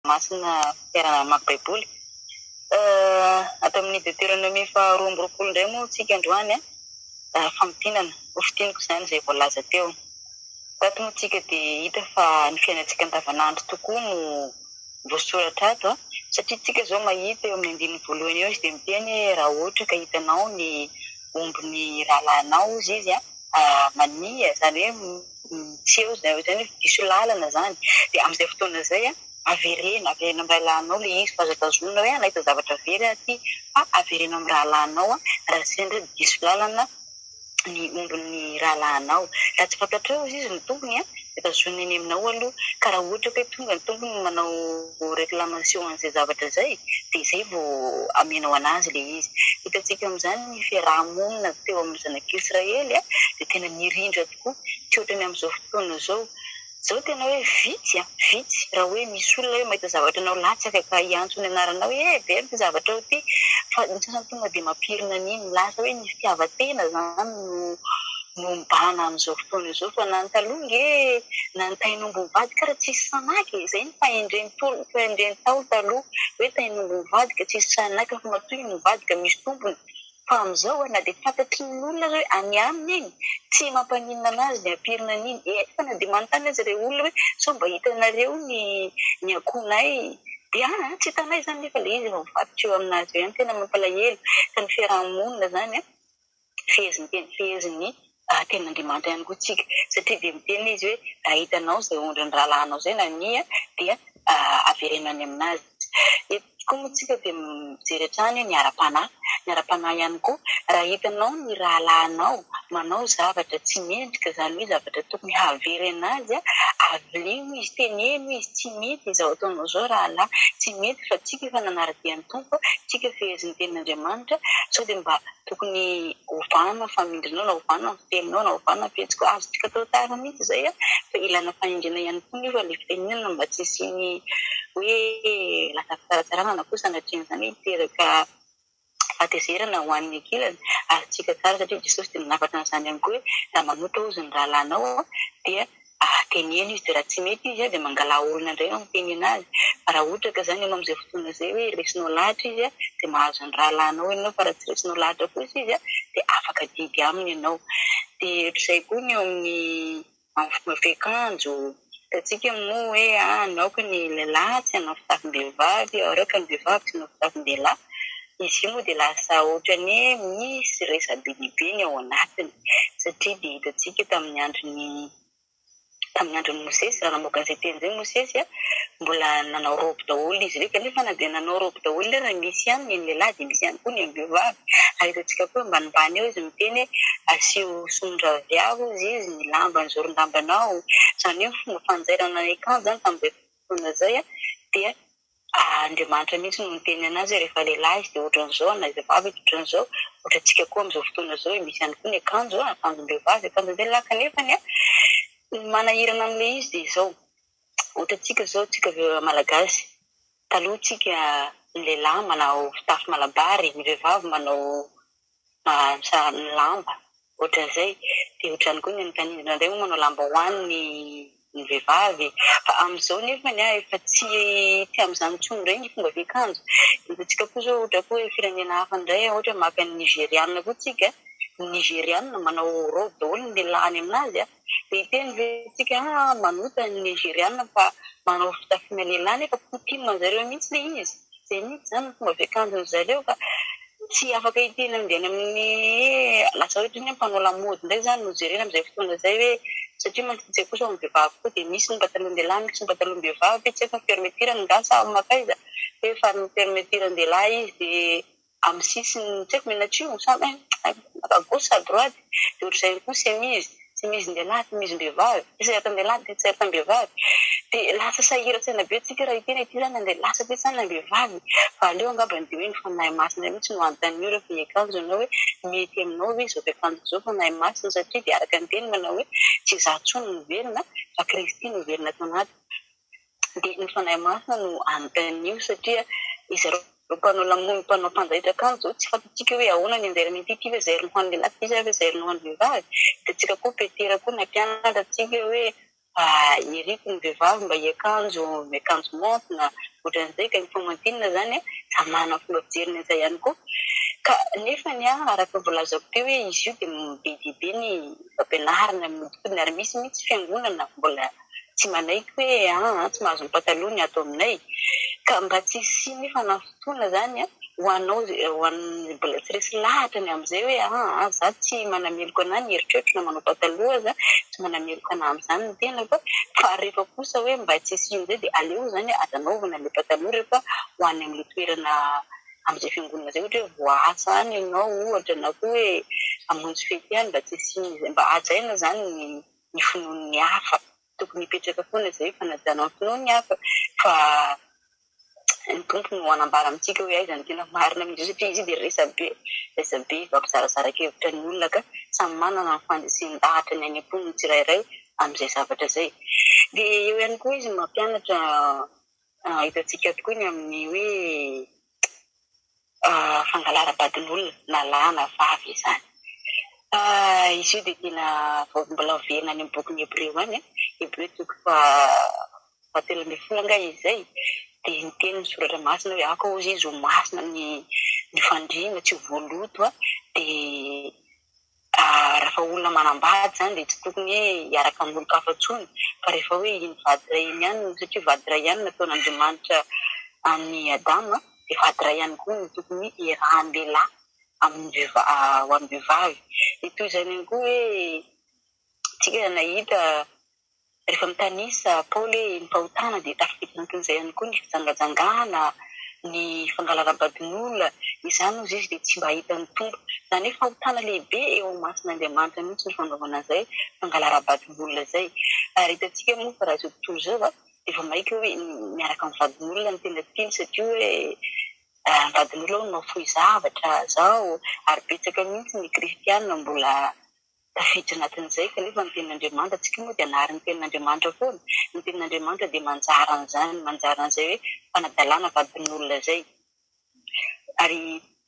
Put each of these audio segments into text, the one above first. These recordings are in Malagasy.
Masina fianarana mamaky Baiboly. Ato amin'ny Deteronomia faharoa amby roapolo indray moa isika androany, famintinana, hofintiniko izany izay voalaza teo. Tato moa isika dia hita fa ny fiainantsika andavanandro tokoa no voasoratra ato, satria isika izao mahita eo amin'ny andininy voalohany eo izy dia miteny hoe raha ohatra ka hitanao ny ombin'ny rahalahinao hozy izy, mania, izany hoe. tsy eo izay izay nefa diso lalana izany dia amin'izay fotoana izay avereno, avereno amin'ny rahalahinao ilay izy fa aza tazonina hoe nahita zavatra very aho aty fa avereno amin'ny rahalahinao raha sendra diso lalana ny ombin'ny rahalahinao, raha tsy fantatrao ozy izy ny tompony dia tazonina eny aminao aloha ka raha ohatra ka hoe tonga ny tompony no manao reclamation an'izay zavatra izay dia izay vao amenao an'azy ilay izy, hitantsika amin'izany ny fiaraha-monina teo amin'ny zanak'israely dia tena nirindra. tokoa tsy ohatran'ny amin'izao fotoana izao. Izao tena hoe vitsy an! vitsy raha hoe misy olona hoe mahita zavatra anao latsaka ka hiantso ny anaranao hoe eh! very ity zavatray ity fa ny sasany tonga dia mampirina an'iny. Lasa hoe ny fitiavan-tena izany no mibahana amin'izao fotoana izao fa na ny taloha ange na ny tain'omby mivadika ary tsy nisy sahy naka e! izay no fahendren'ny tolona, fahendren'ny ntaolo taloha hoe tain'omby mivadika tsy nisy sahy naka fa matoa iny nivadika misy tompony. Fa amin'izao a, na dia fantatry ny olona aza hoe any aminy iny, tsy mampaninona anazy ny hampirina an'iny. Eny fa na dia manontany aza ireo olona hoe sao mba hitanareo ny ny akohonay, dia an, tsy hitanay izany nefa ilay izy mivadika eo aminazy eo ihany. Tena mampalahelo, ka ny fiaraha-monina izany an, fehezinteny, fehezin'ny Ahatenin'Andriamanitra ihany koa isika, satria dia miteny Izy hoe, Raha hitanao izay ondrin'ny rahalahinao izay nania, dia avereno any amin'azy. Eto koa moa isika dia mijery hatrany ny ara-panahy. Ny ara-panahy ihany koa, raha hitanao ny rahalahinao manao zavatra tsy mendrika, izany hoe zavatra tokony havereno azy, aveleno izy, teneno izy, Tsy mety izao ataonao izao rahalahy, tsy mety fa tsika efa nanara-dia ny Tompo, tsika fehezin'ny tenin'Andriamanitra, sao dia mba tokony ho vanona ny famindrinao na ho vanona ny fiteninao na ho vanona ny fihetsika ao, azontsika atao tara mihitsy izay an! fa ilaina fanindriana ihany koa nefa ilay fitenenana mba tsy hisian'ny hoe lasa fitsaratsarana na koa sanatrian'izany hoe hiteraka fahatezerana ho an'ny ankilany, azontsika tsara satria Jesosy dia nanafatra an'izany ihany koa hoe raha manota hozy ny rahalahinao dia ary teneno izy de raha tsy mety izy de mangalà olona indray mampitenena azy fa raha ohatra ka zany ianao amzay fotoana zay hoe resinao lahatra izy de mahazo ny rahalahinao ianao fa raha tsy resinao lahatra kosa izy de afaka adidy aminy ianao de ohatrizay koa ny eo amin'ny amin'ny fomba fiakanjo hitantsika moa hoe aoka ny lehilahy tsy hanao fitafim-behivavy aoka ny vehivavy tsy hanao fitafin-dehilahy Izy io moa dia lasa ohatran'ny hoe misy resa-be dia be ny ao anatiny, satria dia hitantsika tamin'ny andron'i, tamin'ny andron'i Mosesy, raha namoaka an'izay teny izay Mosesy, mbola nanao raoby daholo izy ireo, kanefa na dia nanao raoby daholo ireo, raha misy ihany ny an'ny lehilahy dia misy ihany koa ny am-behivavy. Ary hitantsika koa hoe ambanimbany eo izy miteny hoe asio somondraviavy hozy izy ny lamba, ny zoron-dambanao. Izany hoe ny fomba fanjairana ny akanjo tamin'izay fotoana izay dia Andriamanitra mihitsy no miteny anazy rehefa lehilahy izy dia ohatran'izao na izy vavy izy ohatran'izao ohatra antsika koa amin'izao fotoana izao e misy ihany koa ny akanjo a akanjom-behivavy akanjon-dehilahy kanefany a ny manahirana an'ilay izy dia izao ohatra antsika izao tsika malagasy taloha tsika ny lehilahy manao fitafy malabary ny vehivavy manao mahantra ny lamba ohatran'izay dia ohatrany koa ny an'ny tanindrazana indray moa manao lambahoany ny ny vehivavy fa amin'izao nefa ny ahy efa tsy tsy amin'izany intsony indray ny fomba fiakanjo hitantsika koa izao ohatra koa hoe firenena hafa indray ohatra maka ny nigeriana koa tsika ny nigeriana manao robe daholo ny lelahany aminazy an Dia hiteny ve isika manota ny Nigeriana fa manao fitafiana lehilahy nefa coutume an'zareo mihintsy le izy? Zay mihintsy zany ny fomba fiakanjon'ny zareo ka tsy afaka hiteny an'deny amin'ny lasa ohatry ny hoe mpanao lamaody indray zany no jerena amin'izay fotoana izay hoe satria mantsy ny tsaiky kosa ho an'ny vehivavy koa dia misy ny patalohan-dehilahy misy ny patalohan-behivavy, tsy haiko ny fermeture-ny angaha sa makaiza, fa efa ny fermeture-ny lehilahy izy dia. Amin'ny sisiny tsy haiko mena atsimo sa eh à gauche sa à droite dia ohatr'izay ihany koa ny semizy, semizin-dehilahy, semizim-behivavy, tisertam-dehilahy, tisertam-behivavy dia lasa sahirantsaina be tsika raha ity na ity izany handeha lasa aty sa na vehivavy fa aleo angamba ny dia hoe ny Fanahy Masina mihitsy no hanontanian'io ireo fihakanjo anao hoe mety aminao ve izao fiakanjo izao Fanahy Masina satria dia araka ny Teniny manao hoe tsy izaho intsony no velona fa Kristy no velona ato anatiko. dia ny Fanahy Masina no anontanio satria izy ireo mpanao lamony, mpanao mpanjaitra kanjo izao tsy fantatsika hoe ahoana ny anjara mety ity ve zairiny ho an'ny lehilahy ity sa ve zairiny ho an'ny vehivavy, dia antsika koa Petera koa nampianatra antsika hoe iriko ny vehivavy mba hiakanjo miakanjo maonty na ohatran'izay ka ny faomantinana izany samy manana ny fomba fijeriny an'izay ihany koa ka nefany araka ny voalazako teo hoe izy io dia be dia be ny fampianarana ny nodinkodina ary misy mihitsy fiangonana mbola tsy manaiky hoe aa tsy mahazo ny pataloha ny ato aminay ka mba tsy hisian'ny fanafitoana izany ho anao ho an'ny mbola tsy resy lahatra ny amin'izay hoe aa za tsy manameloka anah ny eritreritro na manao pataloha aza tsy manameloka anah amin'izany ny tenako fa rehefa kosa hoe mba tsy hisian'izay dia aleo izany aza anaovana ilay pataloha rehefa ho any amin'ilay toerana amin'izay fiangonana izay ohatra hoe voaasa any ianao ohatra na koa hoe hamonjy fety any mba tsy hisian'izay mba hajaina izany ny ny finoan'ny hafa. Tokony hipetraka foana izay io fanajana ny finoan'ny hafa fa ny Tompo no hanambara amintsika hoe aiza no tena marina amin'izy io satria izy io dia resabe, resabe fampizarazara-kevitra ny olona ka samy manana ny fandresen-dahatra ny any am-pony ny tsirairay amin'izay zavatra izay. Dia eo ihany koa izy mampianatra hitantsika tokoa ny amin'ny hoe. fangalaram-badin'olona na lahy na vavy izany. Izy io dia tena mbola miverina any amin'ny bokin'ny Hebreo any, Hebreo toko fahatelo ambin'ny folo angaha izy izay, dia niteny ny soratra masina hoe aoka hozy izy ho masina ny fandriana, tsy ho voaloto, dia Rehefa olona manambady izany dia tsy tokony hoe hiaraka amin'olon-kafa intsony fa rehefa hoe iny vady iray iny ihany no, satria vady iray ihany no nataon'Andriamanitra an'i Adama dia vady iray ihany koa no tokony hiarahan'ny lehilahy amin'ny vehivavy, ho an'ny vehivavy. Dia toy izany ihany koa hoe, isika nahita Rehefa mitanisa Paoly hoe ny fahotana dia tafiditra anatin'izay ihany koa ny fijangajangana, ny fangalaram-badin'olona, izany hozy izy dia tsy mba hahita ny Tompo. Izany hoe fahotana lehibe eo imason'Andriamanitra mihitsy ny fanaovana izay fangalaram-badin'olona izay. Ary hitantsika moa fa raha izao tontolo izao dia vao maika hoe miaraka amin'ny vadin'olona ny tena tiany satria hoe ny vadin'olona hono mahafoy zavatra izao, ary betsaka mihitsy ny kristiana mbola Tafiditra anatin'izay kanefa ny tenin'Andriamanitra, antsika moa dia hanary ny tenin'Andriamanitra foana. Ny tenin'Andriamanitra dia manjary an'izany, manjary an'izay hoe fanadalana vadin'olona izay. Ary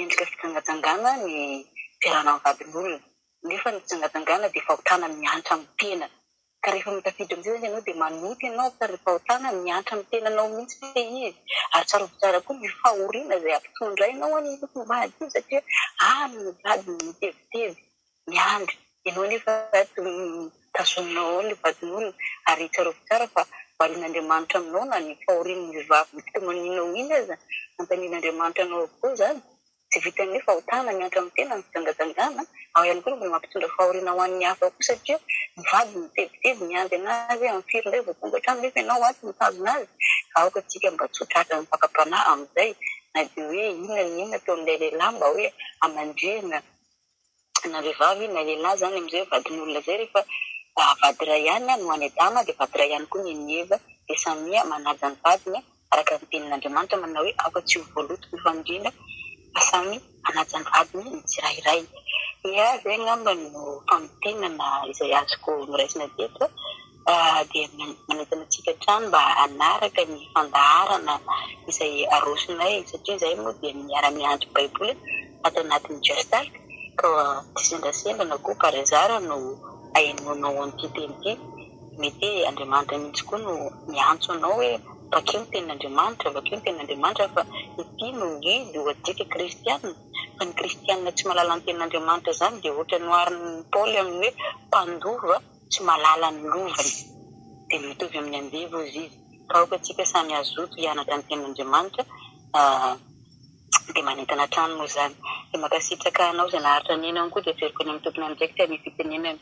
endrika fijangajangana ny fiarahana amin'ny vadin'olona, nefa ny fijangajangana dia fahotana miantra amin'ny tena. Ka rehefa mitafiditra amin'izay izany ianao dia manota ianao fa ry fahotana miantra amin'ny tenanao mihitsy ve izy? Ary tsarovy tsara koa ny fahoriana izay hampitondrainao an'ny tompom-bady io satria any no vadiny mitebiteby miandry, ianao anefa ato tazoninao ao ilay vadin'olona. Ary tsarovy tsara fa varian'Andriamanitra aminao na ny fahorian'ny vavy mitomanina ho iny aza, anontanian'Andriamanitra anao avokoa izany. Tsy vitan'ny hoe fahotana ny antran'ny tena ny fijangajanjana, ao ihany koa ny mbola mampitondra fahoriana ho an'ny hafa ao koa satria mivady ny mitebiteby miandry an'azy hoe amin'ny firy indray vao tonga an-trano nefa ianao ato mitazona azy ka aoka tsika mba tsy ho tratran'ny fakam-panahy amin'izay na dia hoe inona na inona ataon'ilay lehilahy mba hoe hamandrihina na vehivavy na lehilahy zany amzay vadin'olona zay refa vady iray ihany no any adama de vady iray ihany koa ny an'i eva de samia manaja ny vadiny araka ny tenin'andriamanitra manao hoe aoka tsy ho voaloto ny famindrina fa samy hanaja ny vadiny ny tsirairay dia zay angamba no famintinana izay azoko noraisina teto dia manentana antsika hatrany mba hanaraka ny fandaharana izay arosonay satria izahay moa dia miara miandry baiboly ato anatin'ny Gestalt ka tsy sendasenda na koa par hasard no ahenoanao an'ity teny ity, mety hoe Andriamanitra mihitsy koa no miantso anao hoe vakio ny tenin'Andriamanitra, vakio ny tenin'Andriamanitra fa ity no guide ho antsika kristiana, fa ny kristiana tsy mahalala ny tenin'Andriamanitra izany dia ohatran'ny noharin'i Paoly amin'ny hoe mpandova. Tsy mahalala ny lovany. Dia mitovy amin'ny andevo hozy izy. Raha aoka antsika samy hazoto hianatra ny Tenin'Andriamanitra, dia manentana hatrany moa izany. Dia mankasitraka anao izay naharitra nihaino ankoho dia averiko any amin'ny tompon'andraikitra ny fitenenana.